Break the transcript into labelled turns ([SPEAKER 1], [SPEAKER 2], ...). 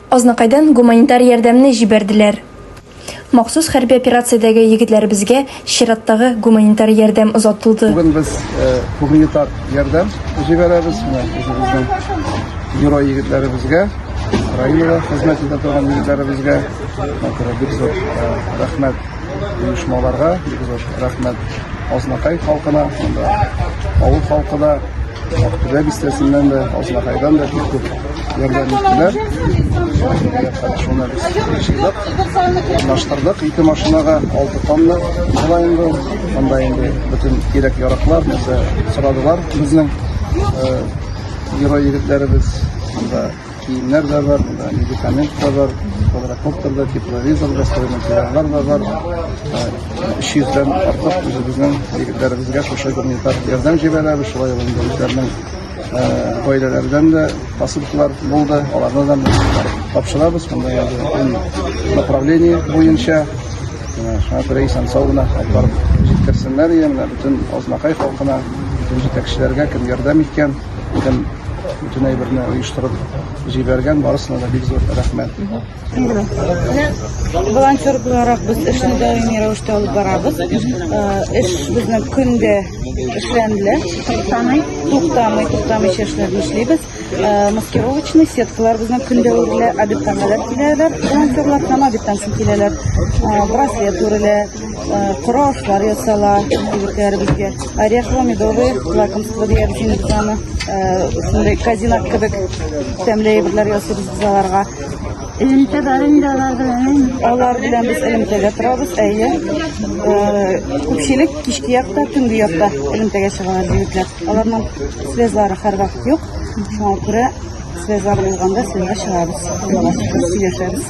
[SPEAKER 1] Азнакайдан гуманитар ярдәмне җибәрделәр. Махсус хәрби операциядәге егетләребезгә чираттагы гуманитар ярдәм озатылды. Бүген без
[SPEAKER 2] гуманитар ярдәм җибәрәбез. Менә үзебезнең герой егетләребезгә, Украинада хезмәт итә торган егетләребезгә бик зур рәхмәт оешмаларга, бик зур рәхмәт Азнакай халкына, авыл халкы да. Актүбә бистәсеннән дә, Азнакайдан да бик күп ярдәм иттеләр. Шуны без тикшердек, урнаштырдык. Ике машинага алты тонна була инде. Анда инде бөтен кирәк яраклар, нәрсә сорадылар безнең э, герой егетләребез. Анда Киемнәр дә бар, медикамент та бар, квадрокоптер да, тепловизор да, строй материаллар да бар. Өч йөздән артык үзебезнең егетләребезгә шушы гуманитар ярдәм җибәрәбез, шулай ул инде үзләренең гаиләләрдән дә посылкалар булды, аларны да тапшырабыз, монда язылган направление буенча шуңа күрә исән сау гына алып җиткерсеннәр, ия, бөтен Азнакай халкына, бөтен җитәкчеләргә кем ярдәм иткән, һәм бөтен әйберне оештырып җибәргән барысына да бик зур рәхмәт
[SPEAKER 3] волонтер буларак без эшне даими рәвештә алып барабыз эш безнең көндә эшләнелә туктамый туктамый туктамыйча эшләрне эшлибез маскировочный сеткалар безнең көндә үрелә обедтан кадәр киләләр волонтерлар һәм обедтан соң киләләр браслет үрелә Коры ашлар ясала егетләребезгә. Орехлы медовый лакомство дигән җине без аны шундый казинак кебек тәмле әйберләр ясыйбыз без аларга. Элемтәләр инде алар белән. Алар белән без элемтәгә торабыз, әйе. Күпчелек кичке якта, төнге якта элемтәгә чыгалар егетләр. Аларның связлары һәрвакыт юк. Шуңа күрә связлар булганда связга чыгабыз. Сөйләшәбез.